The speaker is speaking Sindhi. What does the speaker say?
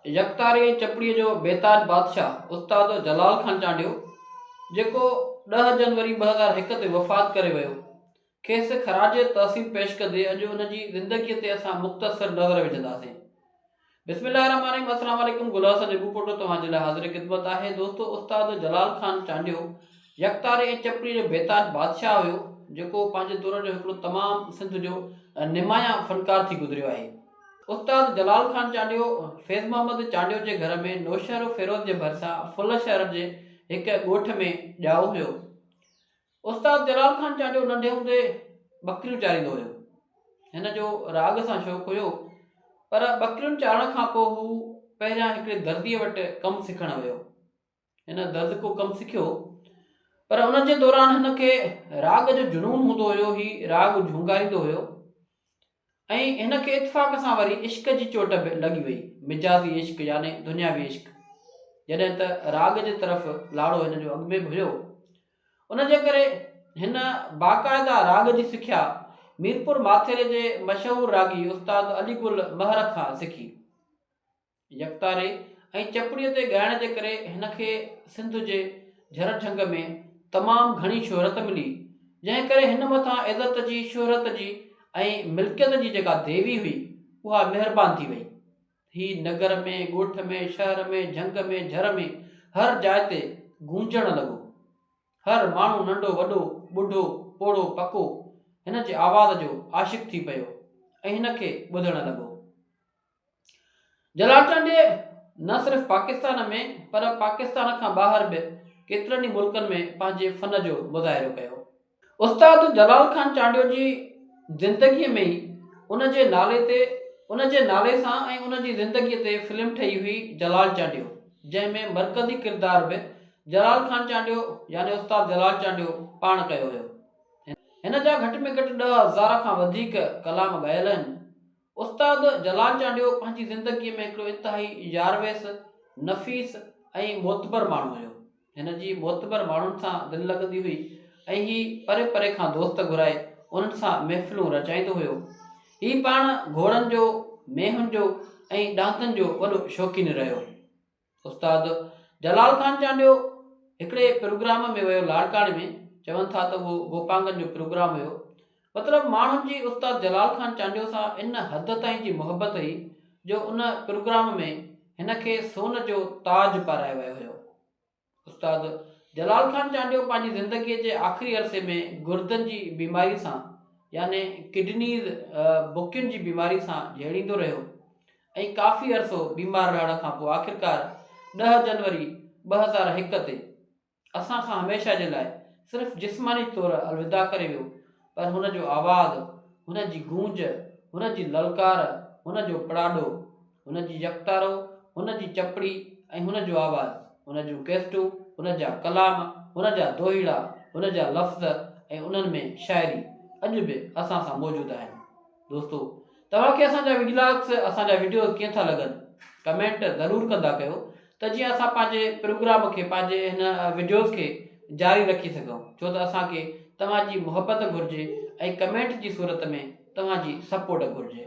يڪتاري ۽ چپڙيء جو بيتاج بادشاهه استاد جلال خان چانڊيو، جيڪو ڏهه جنوري ٻه هزار هڪ تي وفات ڪري ويو، کيس خراج تحسين پيش ڪندي اڄ ان جي زندگيء تي اسان مختصر نظر وجهنداسين. بسم الله الرحمٰن الرحيم السلام عليڪم گل حسن نيبوپوٽو توهان جي لاء حاضر خدمت آهي دوستو استاد جلال خان چانڊيو يڪتاري ۽ چپڙيء جو بيتاج بادشاهه هيو جيڪو پنهنجي دور جو هڪڙو تمام سنڌ جو نمايان فنڪار ٿي گذريو آهي. استاد جلال خان چانڊيو، فيض محمد چانڊيو جي گهر ۾ نوشهروفيروز جي ڀرسان ڦل شهر جي هڪ ڳوٺ ۾ ڄائو هيو. استاد جلال خان چانڊيو ننڍي هوندي ٻڪريون چاريندو هيو. هن جو راڳ سان شوق هيو پر ٻڪريون چارڻ کان پوء هو پهريان هڪڙي درديء وٽ ڪم سکڻ ويو. هن گز ڪو ڪم سکيو پر ان جي دوران هن کي راڳ جو جنون هوندو هيو هي راڳ جهونگاريندو هيو ۽ هن کي اتفاق سان وري عشق جي چوٽ به لڳي وئي مجازي عشق يعني دنياوي عشق جڏهن ته راڳ جي طرف لاڙو هن جو اڳ ۾ به هيو ان جي ڪري هن باقاعده راڳ جي سکيا ميرپور ماٿيري جي مشهور راڳي استاد علي گل مهر کان سکي يڪتاري ۽ چپڙي تي ڳائڻ جي ڪري هن کي سنڌ جي جھر جھنگ ۾ تمام گھڻي شهرت ملي جنهن ڪري هن مٿان عزت جي شهرت جي ۽ ملڪيت جي جيڪا ديوي هئي اها مهربان ٿي وئي هي نگر ۾ ڳوٺ ۾ شهر ۾ جھنگ ۾ جھر ۾ هر جاء تي گونجڻ لڳو هر ماڻهو ننڍو وڏو ٻڍو پوڙهو پڪو هن جي آواز جو عاشق ٿي پيو ۽ هن کي ٻڌڻ لڳو. جلاٽن ڊي نه صرف پاڪستان ۾ پر پاڪستان کان ٻاهر به ڪيترن ئي ملڪن ۾ پنهنجي فن جو مظاهرو ڪيو. استاد جلال خان چانڊيو جي زندگيء ۾ ئي ان جي نالي تي ان جي نالي سان ۽ ان جي زندگيء تي فلم ٺهي هئي جلال چانڊيو جنهن ۾ مرڪزي ڪردار به جلال خان چانڊيو يعني استاد جلال چانڊيو پاڻ ڪيو هيو. هن جا گهٽ ۾ گهٽ ڏهه هزار کان وڌيڪ ڪلام ڳايل آهن. استاد جلال چانڊيو پنهنجي زندگيء ۾ هڪڙو انتهائي يارويس، نفيس ۽ معتبر ماڻهو هيو. هن جي معتبر ماڻهن سان دل لڳندي هئي ۽ هي پري پري کان دوست گهرائي انهن سان محفلون رچائيندو هيو. هي پاڻ گهوڙن جو، مينهن جو ۽ ڏاندن جو وڏو شوقين رهيو. استاد جلال خان چانڊيو هڪڙي پروگرام ۾ ويو لاڙڪاڻي ۾ چون ٿا ته اهو گوپانگن جو پروگرام هيو مطلب ماڻهن جي استاد جلال خان چانڊيو سان ان حد تائين جي محبت هئي جو ان پروگرام ۾ هن کي سون جو تاج پارايو ويو هيو استاد جلال خان چانڊيو پنهنجي زندگيء جي آخري عرصي ۾ گردن جي بيماري سان يعني ڪڊنيز بڪين جي بيماري سان جهيڙيندو رهيو ۽ ڪافي عرصو بيمار رهڻ کان پوء آخرڪار ڏهه جنوري ٻه هزار هڪ تي اسان کان هميشه جي لاء صرف جسماني طور الوداع ڪري ويو پر هن جو آواز، هن جي گونج، هن جي للڪار، هن جو پڙاڏو، هن جي يڪتارو، هن جي چپڙي ۽ هن جو آواز، هن جون ڪيسٽون، هن جا ڪلام، هن جا دوهيڙا، هن جا لفظ ۽ انهن ۾ شاعري اڄ به اسان سان موجود آهن. دوستو توهان کي اسان جا ولاگس اسان جا وڊيوز ڪيئن ٿا لڳن ڪمينٽ ضرور ڪندا ڪيو ته جيئن اسان پنهنجي پروگرام کي پنهنجي هن وڊيوز کي جاري رکي سگهون ڇو ته اسان کي توهان جي محبت گهرجي ۽ ڪمينٽ جي صورت ۾ توهان جي سپورٽ گهرجي